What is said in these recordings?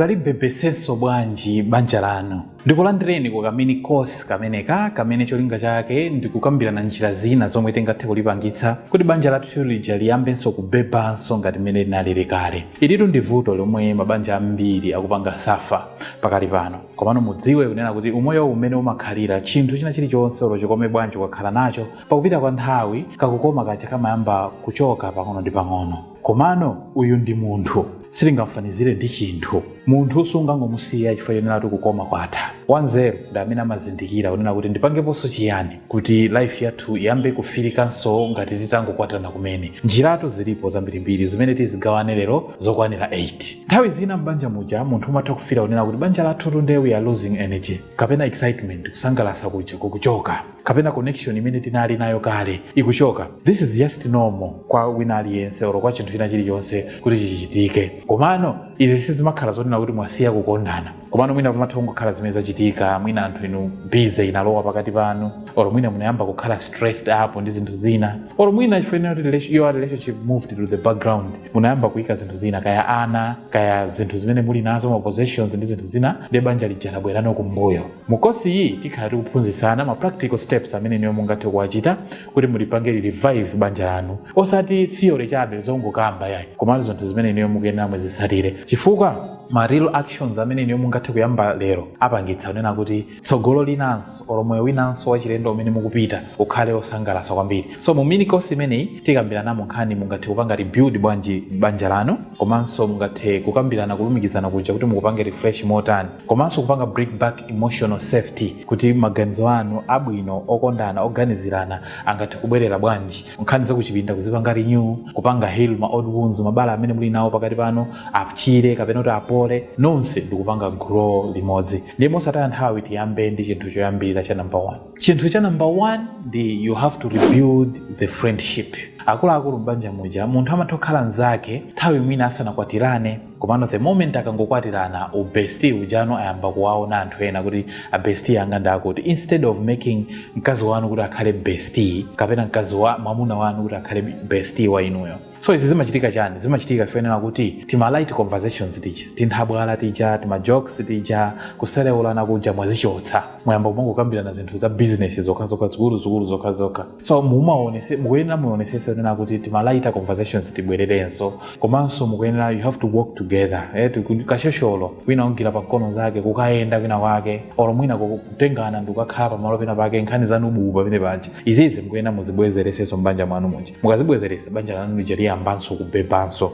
Mungalibebetsenso bwanji banja lanu? Ndikulandireni ku ka mini course kameneka kamene cholinga chake ndi kukambirana njira zina zomwe tingathe kulipangitsa kuti banja lathu lija liyambenso kubebanso ngati mmene linalili kale. Ilitu ndi vuto lomwe mabanja ambiri akupanga suffer pakali pano. Komano mudziwe kunena kuti umoyowu mmene umakhalira, chinthu china chilichonse olo chikome bwanji ukakhala nacho, pakupita kwa nthawi kakukoma kaja kamayamba kuchoka pang'ono ndi pang'ono. Komano uyu ndi munthu, sitingamfanizire ndi chinthu. Munthu sungangomusiya chifukwa chonena kuti kukoma kwatha. Wanzeru ndi amene amazindikira kunena kuti ndipangeponso chiyani kuti life yathu iyambe kufilikanso ngati titangokwatirana kumene. Njirazitu zilipo zambirimbiri zimene tizigawane lero zokwanira 8. Nthawi zina m'banja muja munthu umatha kufila kunena kuti banja lathutu nde we are losing energy kapena excitement, kusangalasa kuja, kukuchoka. kapena connection imene tinali nayo kale ikuchoka this is just normal kwa wina aliyense oro kwa chinthu china chilichonse kuti chichitike komano izi sizimakhala zonena kuti mwasiya kukondana komano mwina pamatha kungokhala zimene zachitika mwina anthu inu bize inalowa pakati panu oro mwina munayamba kukhala stressed up ndi zinthu zina oro mwina chifukwa kuti relation- your relationship moved to the background munayamba kuika zinthu zina kaya ana kaya zinthu zimene muli nazo ma possessions ndi zinthu zina nde banja lija labwerano kumbuyo Mu kosi iyi tikhala tikuphunzisana ma practical steps amene inuyo mungathe kuwachita kuti mulipange revive banja lanu. Osati theory chabe zongokamba yayi, komano zinthu zimene inuyo mukuyenera muzitsatire. Chifukwa ma real actions amene inuyo mungathe kuyamba lero apangitsa kunena kuti tsogolo linanso or moyo winanso wachilendo umene mukupita ukhale osangalasa kwambiri. So mu mini kosi imeneyi tikambiranamo nkhani mungathe kupanga rebuild bwanji banja lanu komanso mungathe kukambirana kulumikizana kuja kuti mukupange refresh motani. komanso kupanga bring back emotional safety kuti maganizo anu abwino okondana oganizirana angathe kubwerera bwanji nkhani zakuchipinda kuzipanga renew kupanga heal ma old wounds mabala amene muli nawo pakati panu achire kapena kuti apole nonse ndikupanga grow limodzi ndiye mosataya nthawi tiyambe ndi chinthu choyambirira cha number one chinthu cha number one ndi you have to rebuild the friendship akuluakulu m'banja muja munthu amatha kukhala nzake nthawi mwina asanakwatirane komano the moment akangokwatirana u bestie ujano ayamba kuwaona anthu ena kuti a bestie anga ndi akuti instead of making mkazi wanu kuti akhale bestie kapena mkazi wa mwamuna wanu kuti akhale bestie wa inuyo so izi zimachitika chani zimachitika chifukwa chonena kuti tima light conversations tija tinthabwala tija tima jokes tija kuselewulana kuja mwazichotsa mwayamba kumangokambirana zinthu za business zokhazokha zikuluzikulu zokhazokha so mukuyenera muonesese kunena kuti tima light conversations tibwererenso komanso mukuyenera you have to work together eh, tiku- kashosholo wina wagwira pa mkono zake kukayenda kwina kwake olo mwina ku- kutengana ndikukakhala pamalo pena pake nkhani zanu bubu pamene paja izizi mukuyenera muzibwezeresenso mbanja mwanu muja mukazibwezeresa banja lanu lija liyambanso kubebanso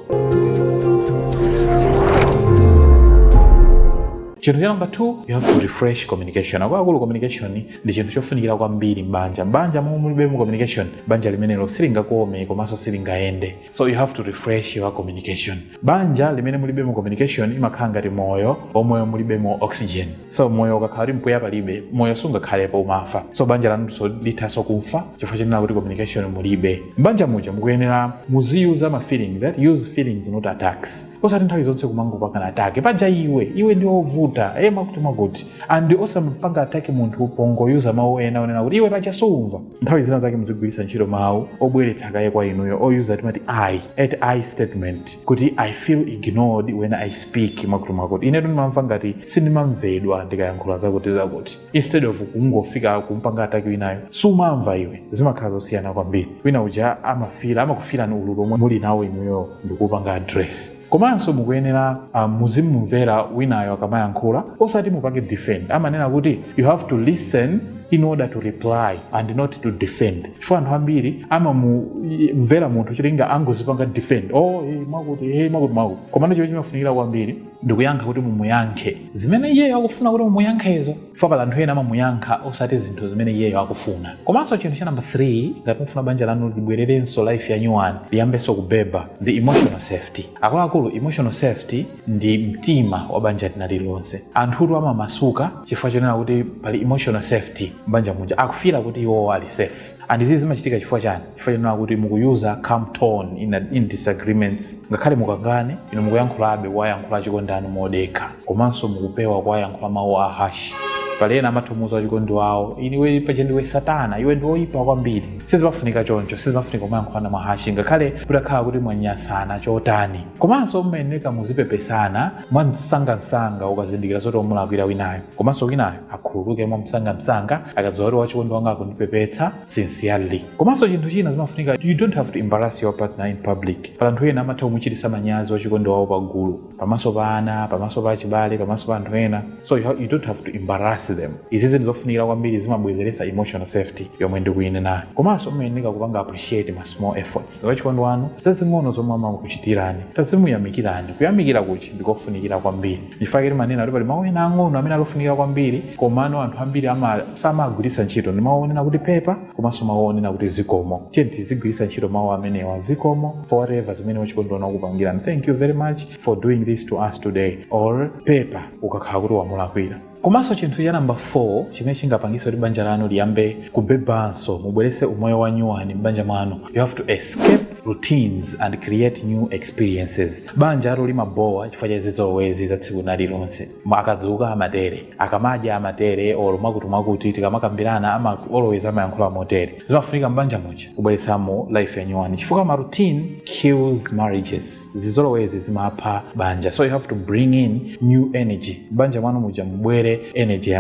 chinthu cha namba 2 you have to refresh communication akuluakulu communication ndi chinthu chofunikira kwambiri m'banja m'banja momwe mulibemo communication banja limenelo silingakome komanso silingayende so you have to refresh your communication banja limene mulibemo communication imakhala ngati moyo omwe mulibemo oxygen so moyo ukakhala kuti mpweya palibe moyo sungakhalepo umafa so banja lanunso lithanso kufa chifukwa chonena kuti communication mulibe m'banja muja mukuyenera muziyuza ma feelings eh? use feelings not attacks osati nthawi zonse kumangopangana attack paja iwe iwe ndi ovuta e mwakuti mwakuti and osampanga attack munthu pongoyuza mawu ena onena kuti iwe paja suumva nthawi zina zake muzigwiritsa ntchito mawu obweretsa kaye kwa inuyo oyuza timati i at i statement kuti i feel ignored when i speak mwakuti mwakuti inetu ndimamva ngati sindimamvedwa ndikayankhula zakuti zakuti instead of kungofika kumpanga attack winayo sumamva iwe zimakhala zosiyana kwambiri wina uja amafila amakufilani ululu omwe muli nawo inuyo ndikupanga address komanso mukuyenera uh, muzimumvera winayo akamayankhula osati mupange defend amanena kuti you have to listen in order to reply and not to defend chifukwa anthu ambiri amamumvera munthu cholinga angozipanga defend oh hey, mwakuti hey, mwakuti mwakuti komano chimene chimafunikira kwambiri ndikuyankha kuti mumuyankhe zimene iyeyo akufuna kuti mumuyankhezo chifukwa pali anthu ena amamuyankha osati zinthu zimene iyeyo akufuna komanso chinthu cha namba 3 ngati mufuna banja lanu libwererenso life ya nyuwani liyambenso kubeba ndi emotional safety akuluakulu emotional safety ndi mtima wa banja lina lililonse anthutu amamasuka chifukwa chonena kuti pali emotional safety m'banja muja akufila kuti iwowo ali safe and izi zimachitika chifukwa chani chifukwa chonena kuti mukuyuza calm tone in, a- in disagreements ngakhale mukangane inu mukuyankhulabe kuwayankhula achikondi anu modekha komanso mukupewa kuwayankhula mawu a harsh pali ena amathomuuza wachikondi wawo iwe paja ndiwe satana iwe ndi woyipa kwambiri sizimafunika choncho sizimafunika kumayankhulana mwa harsh ngakhale mutakhala kuti mwanyasana chotani komanso mumayeneka muzipepesana mwamsangamsanga ukazindikira zoti wamulakwira winayo komanso winayo akhululuke mwamsangamsanga akadziwa kuti wachikondi wanga akundipepetsa sincerely komanso chinthu china zimafunika you don't have to embarrass your partner in public pali anthu ena amatha kumuchitisa manyazi wachikondi wawo pagulu pamaso pa ana pamaso pa achibale pamaso pa anthu ena so you, ha- you don't have to embarrass them izizi ndi zofunikira kwambiri zimabwezeretsa emotional safety yomwe ndikuyinenayo komanso mumayeneka kupanga appreciate ma small efforts wachikondi wanu zazing'ono zomwe amakuchitirani tazimuyamikirani kuyamikirakutu ndikofunikira kwambiri Ndichifukwa chake timanena kuti pali mau ena ang'ono amene ali ofunika kwambiri komano anthu ambiri samawagwiritsa ntchito. Ndi mau onena kuti pepa komanso mau onena kuti zikomo. Tiyeni tizigwiritsa ntchito mau amenewa. Zikomo for whatever zimene wachikondi wanu wakupangirani. Thank you very much for doing this to us today or pepa ukakhala kuti wamulakwira. Komanso chinthu cha number 4 chimene chingapangitse kuti banja lanu liyambe kubebanso, mubweretse umoyo wanyuwani m'banja mwanu, you have to escape routines and create new experiences. Banjalo limabhowa chifukwa cha zizolowezi za tsiku linalilonse. Akadzuka amatere. Akamadya amatere or mwakutimwakuti tikamakambirana ama always amayankhula motere. Zimafunika m'banja muja kubweretsamo life yanyuwani chifukwa ma routine kills marriages. Zizolowezi zimapha banja so you have to bring in new energy. M'banja mwanu muja mubwere energy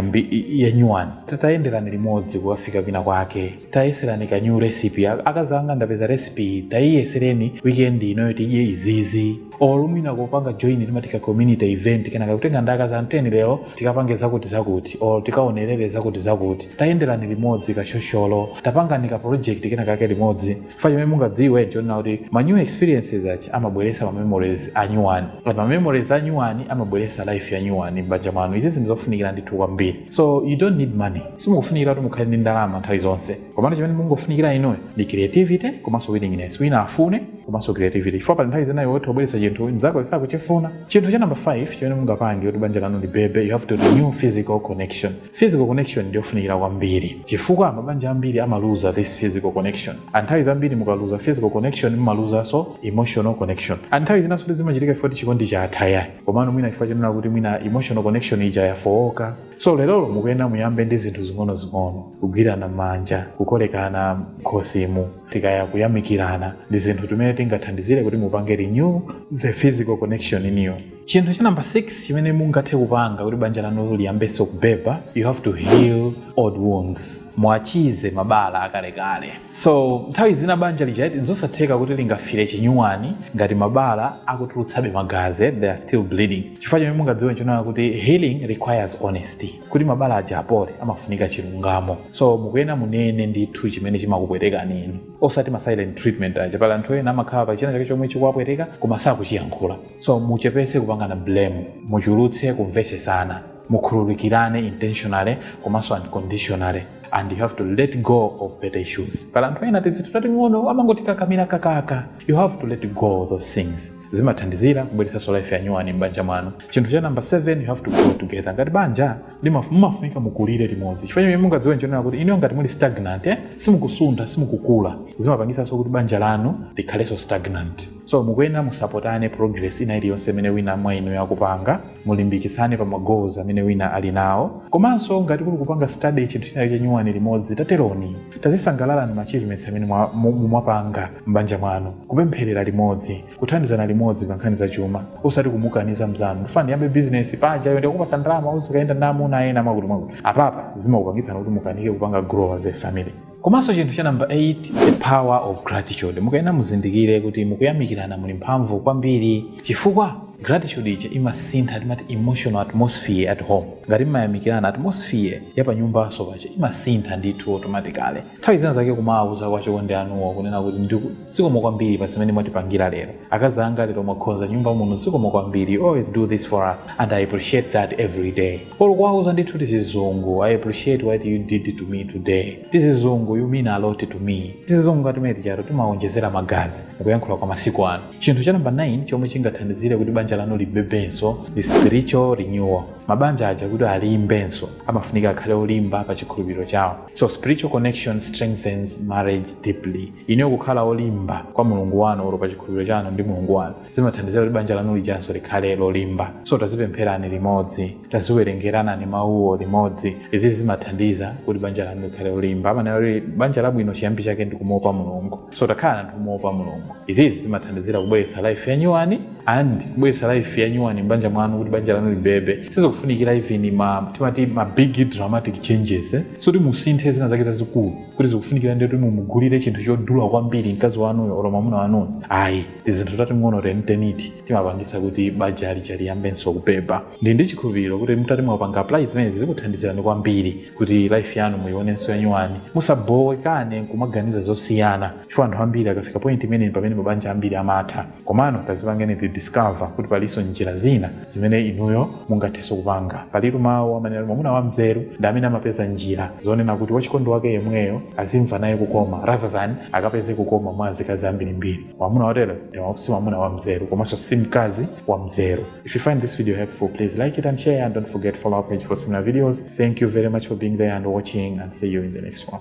yanyuwani. Tayenderani limodzi kukafika kwina kwake. tayeserani ka new recipe Ak- akazi anga ndapeza recipe iyi tayiyesereni weekend inoyo tidye izizi or mwina kupanga join timati ka community event kenaka kutenga ndi akazi anu teni lero tikapange zakuti zakuti or tikaonerere zakuti zakuti tayenderani limodzi kashosholo tapangani ka project kenakake limodzi chifukwa chimene mungadziwe nchonena kuti ma new experiences aja amabweresa ma memories anyuwani ma memories anyuwani amabweresa life yanyuwani m'banja mwanu izi ndi zofunikira ndithu kwambiri so you don't need money simukufunikira kuti mukhale ndi ndalama nthawi zonse komano chimene mungofunikira inuyo ndi creativity komanso willingness wina afune komanso creativity chifukwa pali nthawi zina iwe utha kubweretsa chinthu mnzako sakuchifuna chinthu cha number 5 chimene mungapange kuti banja lanu libebe you have to renew physical connection physical connection ndiyofunikira kwambiri chifukwa mabanja ambiri amaluza this physical connection and nthawi zambiri mukaluza physical connection mumaluzanso emotional connection and nthawi zinanso sikuti zimachitika chifukwa kuti chikondi chatha ayi komano mwina chifukwa chonena kuti mwina emotional connection ija yafooka so lerolo mukuyenera muyambe ndi zinthu zing'onozing'ono kugwirana manja kukolekana mkhosimu tikaya kuyamikirana ndi zinthu timene tingathandizire kuti mupange renew the physical connection inuyo chinthu cha namba 6 chimene mungathe kupanga kuti banja lanu liyambenso kubeba you have to heal old wounds muwachize mabala akalekale So nthawi zina banja lija eti nzosatheka kuti lingafire chinyuwani ngati mabala akutulutsabe magazi eh, they are still bleeding chifukwa chimene mungadziwe nchonena kuti healing requires honesty kuti mabala aja apole amafunika chilungamo so mukuyena munene ndithu chimene chimakupwetekani inu osati ma silent treatment aja pali anthu ena amakhala pa china chake chomwe chikuwapweteka koma sakuchiyankhula so muchepese kupangana blame muchulutse kumvesesana mukhululukirane intentionally komanso unconditionally and you have to let go of petty issues pali anthu ena tizinthu tating'ono amangotikakamira kakaka you have to let go of those things zimathandizira kubweretsanso life yanyuwani m'banja mwanu chinthu cha namba 7 you have to grow together ngati banja limaf- mumafunika mukulire limodzi chifukwa chimene mungadziwe nchonena kuti inuyo ngati muli stagnant eh, simukusuntha simukukula zimapangitsanso kuti banja lanu likhalenso stagnant so mukuyenera musapotane progress ina iliyonse imene wina mwa inuyo akupanga Mulimbikitsane pa ma goals amene wina ali nawo. Komanso ngati kuli kupanga study chinthu china chake chanyuwani limodzi tateroni. Tazisangalalani ma achievements amene mu mwapanga m'banja mwanu. Kupempherera limodzi. Kuthandizana limodzi pa nkhani za chuma. Osati kumukaniza mzanu. Ndifuna ndiyambe business, paja iweyo ndikakupatsa ndalama uzikayenda ndi amuna ena mwakuti mwakuti. Apapa zimakupangitsani kuti mukanike kupanga grow as a family. komanso chinthu cha namba 8 the power of gratitude mukayenera muzindikire kuti mukuyamikirana muli mphamvu kwambiri chifukwa gratitude ija imasintha timati emotional atmosphere at home ngati mmayamikirana atmosphere ya panyumbanso paja imasintha ndithu automatically nthawi zina zake kumawauza kwa chikondi anuwo kunena kuti ndiku zikomo kwambiri pa zimene mwatipangira lero akazi anga lero mwakonza nyumba muno zikomo kwambiri you always do this for us and i appreciate that every day olo kuwauza ndithu tizizungu I appreciate what you did to me today tizizungu you mean a lot to me tizizungu ngati timeneti ijatu timawonjezera magazi mukuyankhula kwa masiku ano chinthu cha namba 9 chomwe chingathandizire kuti banja lanu libebenso ndi spiritual renewal mabanja aja kuti alimbenso amafunika akhale olimba pa chikhulupiriro chawo so spiritual connection strengthens marriage deeply ineyo kukhala olimba kwa mulungu wanu olo pa chikhulupiriro chanu ndi mulungu wanu zimathandizira kuti banja lanu lijanso likhale lolimba so tazipempherani limodzi taziwerengeranani mawuwo limodzi izi zimathandiza kuti banja lanu likhale lolimba amanena kuti banja labwino chiyambi chake ndi kumuopa mulungu so takhalani anthu omuopa mulungu izizi zimathandizira kubweretsa life yanyuwani and kubweretsa life yanyuwani mbanja mwanu kuti banja lanu libebe sizikufunikira even ma timati ma big dramatic changes eh? so kuti musinthe zina zake zazikulu kuti zikufunikira ndi kuti mumugulire chinthu chodula kwambiri mkazi wanuyo olo mwamuna wanuyo ayi tizinthu tating'ono teniteniti timapangitsa kuti banja lija liyambenso kubeba ndi ndi chikhulupiriro kuti mutati mwapanga apply zimenezi zikuthandizirani kwambiri kuti life yanu muionenso yanyuwani musabowekane nkumaganiza zosiyana chifukwa anthu ambiri akafika point imene pamene mabanja ambiri amatha komano tazipangani timati discover kuti palinso njira zina zimene inuyo mungathenso kupanga. Palitu mawu amanena kuti mwamuna wamzeru ndi amene amapeza njira zonena kuti wachikondi wake yemweyo azimva naye kukoma rather than akapeze kukoma mwa azikazi ambirimbiri. Mwamuna wotero si mwamuna wamzeru komanso si mkazi wamzeru. If you find this video helpful, please like it and share and don't forget to follow our page for similar videos. Thank you very much for being there and watching and see you in the next one.